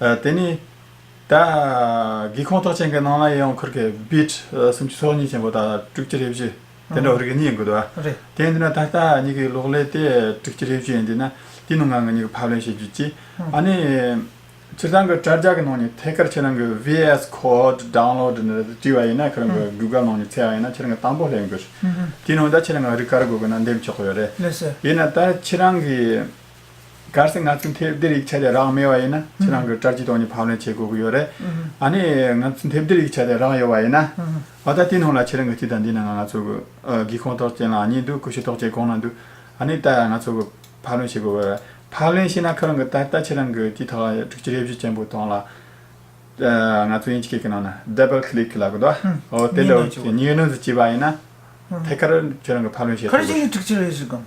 དེ་ནས། སྒེའུ་ཁུང་ཐོག་ཆེན་གྱི་ནང་ལ་ཡང་འཁོར་གྱི་བིད་སུམ་ཅུ་སོ་གཉིས་ཆེན་པོ་དང་དྲུག་ཅུ་རེ་བཞི། དེ་འདྲ་བ་རིགས་གཉིས་ཡིན་དགོས་འདུག་བ། དེ་ཡིན་དུས་ན་ད་ལྟ་གཉིས་ཀྱི་གློག་ཀླད་དེ་དྲུག་ཅུ་རེ་བཞི་ཡིན་དུས་ན། དེའི་ནང་ང་ངེད་གཉིས་ཀྱི་ཕབ་ལེན་བྱེད་རྒྱུ་གཅིག། ཨ་ནི། ཁྱེད་རང་གི་དྲ་རྒྱ་གི་ནང་ནས་ཐད་ཀར་ཁྱེད་རང་གི VS Code Download ནི་བྲིས་བ་ཡིན་ན་ཁྱེད་རང་གི Google ནང་ནས་འཚལ་བ་ཡིན་ན་ཁྱེད་རང་གི་དང་པོ་ལེན་དགོས། དེའི་ནང་ད་ཁྱེད་རང་གི་རིགས་ག་རེ་དགོས་དགོས་ན་འདེམས་ཆོག་གི་ཡོད་རེད། དེས་ན་ད་ཁྱེད་རང་གི། གལ་སྲིད་ང་ཚོས་འཐེབ་བདེ་རིགས་བྱས་ཏེ་རག་མེད་བ་ཡིན་ན་ཁྱེད་རང་གི་སྐྲ་སྐྱི་སྟོང་ནི་ཕབ་ལེན་བྱེད་དགོས་ཀྱི་ཡོད་རེད། ཨ་ནི། ང་ཚོས་འཐེབ་བདེ་རིགས་བྱས་ཏེ་རག་ཡོད་བ་ཡིན་ན། ཨོ་ད་དེ་སྣང་ལ་ཁྱེད་རང་གི་སྐྱི་དང་འདི་ནང་ང་ང་ཚོ་གི། སྒེའུ་ཁུང་ཐོག་བཅས་ལ་གཉིས་འདུག་ཀུ་ཤུ་ཐོག་བཅས་གང་ན་འདུག་ཨ་ནི་ད་ང་ཚོ་གི། ཕབ་ལེན་བྱེད་དགོས་ཀྱི་ཡོད་རེད། ཕབ་ལེན་བྱས་ན་ཁོ་རང་གི་ད་ལྟ་ཁྱེད་རང་གི་སྐྱི་ཐོག་ལ་དྲུག་ཅུ་རེ་བཞི་ཅན་པོ་དང་ལ། ང་ཚོས་ཡིན་གཅིག་གི་ནང་ན Double Click ལ་གོ་ད། ཨོ་དེ་ལོ་གཉིས་ནང་དུ་བཅུག་པ་ཡིན་ན། ཐད་ཀར་ཁྱེད་རང་གི་ཕབ་ལེན་བྱེད་དགོས་ཀྱི། ཁ་རེ་ཅན་གྱི་དྲུག་ཅུ་རེ་བཞི་གང་ན།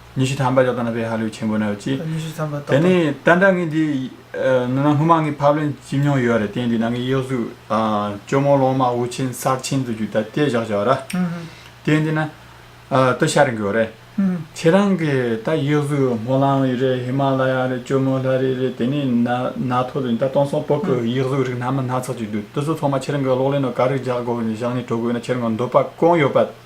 ཉི་ཤུ་ཐམ་པ་ལྕགས་རྟ་ན་བས་ཧ་ལོས་ཆེན་པོ་ན་བས་ཅི། ཉི་ཤུ་ཐམ་པ་ཏོག་ཏོག། དེ་ནས་ད་ནངས་འདི་ནང་སྔོན་མ་ངས་ཕབ་ལེན་བྱེད་མྱོང་ཡོད་རེད་དེ་འདི་ནངས་གཡག་གཟུགས་གཅོ་མོ་ལོང་མ་འུར་ཆེན་སར་ཆེན་དུ་རྒྱུ་ད་ལྟས་བཞག་བྱ་བ་ར། དེ་འདི་ན། ད་ཤ་རེ་འགོས་རེད། ཁྱེད་རང་གི་ད་གཡག་གཟུགས་སྨོ་ལང་རེད་ཧི་མ་ལ་ཡ་རེད་གཅོ་མོ་ལྷ་རི་རེད་དེ་ནས་ན་ཐོ་དུ་ད་སྟོང་སོང་སྤོ་ཀི་གཡག་གཟུགས་རིགས་སྣ་མ་སྣ་ཚགས་ཅིག་འདུག་དེ་ཚོ་ཚང་མ་ཁྱེད་རང་གི་གློག་ཀླད་ནང་ག་རེ་བཞག་དགོས་བཞག་ནས་དྲོ་དགོས་ན་ཁྱེད་རང་གི་འདོད་པ་གང་ཡོད་པ།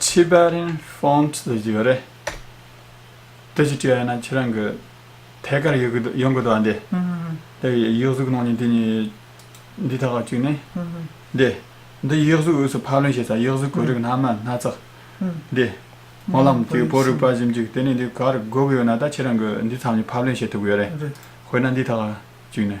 Tibetan Font ཟེར་གྱི་ཡོད་རེད། དེ་ཅིག་བྲིས་ཡོད་ན་ཁྱེད་རང་གི་ཐད་ཀར་ཡོད་གི་ཡོང་གི་འདུག་ཨ་འདི། དེ་ཡིག་གཟུགས་གནང་ཉིན་དེ་ཉིན་འདི་ཐད་ཀར་བཅུག་ནས། འདི། འདི་ཡིག་གཟུགས་དབུས་སུ་ཕར་ལེན་བྱས་ཙང་ཡིག་གཟུགས་གོ་རིག་སྣ་མང་སྣ་ཚགས། འདི། སྨོན་ལམ་གྱི་པོ་རིག་པ་བཞིན་བཅུག་དེ་ནས་འདི་གར་དགོས་གི་ཡོད་ན་ད་ཁྱེད་རང་གི་འདི་ཐམས་ཅད་ཕར་ལེན་བྱེད་ཐུབ་གི་ཡོད་རེད། དཔེར་ན་འདི་ཐད་ཀར་བཅུག་ནས།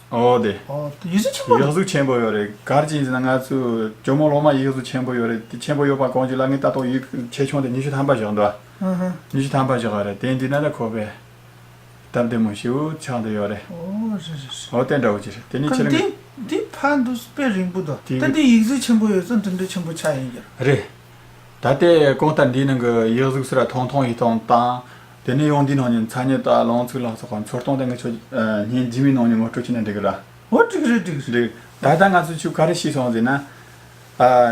འོ་དེ། ཡིག་གཟུགས་ཆེན་པོ་རེད། ཡིག་གཟུགས་ཆེན་པོ་ཡོད་རེད་གར་གྱིས་ཟིན་ན་ང་ཚོས་ཇོ་མོ་ལོ་མ་ཡིག་གཟུགས་ཆེན་པོ་ཡོད་རེད་དེ་ཆེན་པོ་ཡོད་པ་གོང་གི་ལ་ངའི་ལྟ་རྟོག་ཡིག་ཆེ་ཆུང་དེ་ཉི་ཤུ་ཐམ་པ་བཞག་འདུག་ཨ། ཉི་ཤུ་ཐམ་པ་བཞག་རེད་དེ་འདི་ན་ད་ཁོ་པའི་སྟབས་བདེ་མོ་ཞིག་ཆགས་འདི་ཡོད་རེད། འོ་རེད་རེད་རེད། འོ་དེ་འདྲ་བོ་ཅི་རེད་དེ་ནི་ཕྱི་ལོ། འདི་ཕར་འདུག་དཔེ་རིང་པོ་འདུག་ད་འདི་ཡིག་གཟུགས་ཆེན་པོ་ཡོད་ཚོད་འདི་འདྲ་ཆེན་པོ་ཆགས་ཡིན་རྒྱུ་རེད། རེད། ད་ལྟའི་གོང་ལྟར་འདིའི་ནང་གི་ཡིག་གཟུགས་སུ་ར་ཐོང་ཐོང་ཡིག་ཐོང་དང། དེ་ནས་ཡོང་དུས་ནང་ཉིན་ཚ་ཉེ་དག་ལོངས་ཚིགས་ལགས་སོགས་ཁོང་ཚོར་སྟོང་དང་དགུ་ཆོས་ཉིན་རྗེས་མའི་ནང་ཉིན་ངོ་སྤྲོད་བྱས་ནས་འགྲིག་གི་ར། ཨོ་འགྲིག་རེད་འགྲིག་རེད། ད་ལྟ་ང་ཚོས་ཆུ་ག་རེ་ཤི་སོང་ཟེར་ན།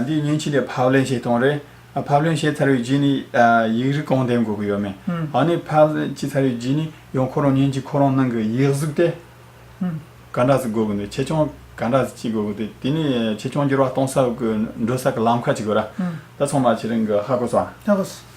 འདིའི་ཉིན་གཅིག་ལས་ཕབ་ལེན་བྱས་གཏོང་རེད། ཕབ་ལེན་བྱས་ཚར་བའི་རྗེས་ནས་ཡིག་རིགས་གང་འདེམས་དགོས་ཀྱི་ཡོད་མེད། འང་ནས་ཕབ་ལེན་བྱས་ཚར་བའི་རྗེས་ནས་ཡང་ཁོ་རང་ཉིན་གཅིག་ཁོ་རང་ནང་གི་ཡིག་གཟུགས་དེ། ག་འདྲ་ཟིག་དགོས་ཀྱི་འདུག་ཆེད་སྦྱོང་ག་འདྲ་ཟིག་ཅིག་དགོས་ཀྱི་འདུག་དེ་ནས་ཆེད་སྦྱོང་འགྱུར་བ་གཏོང་ས་དགོས་འགྲོ་ས་གི་ལམ་ཁ་ཅིག་དགོས་ར། ད་ཚང་མ་ཁྱེད་རང་གི་ཧ་གོ་སོང། ཧ་གོ་སོང།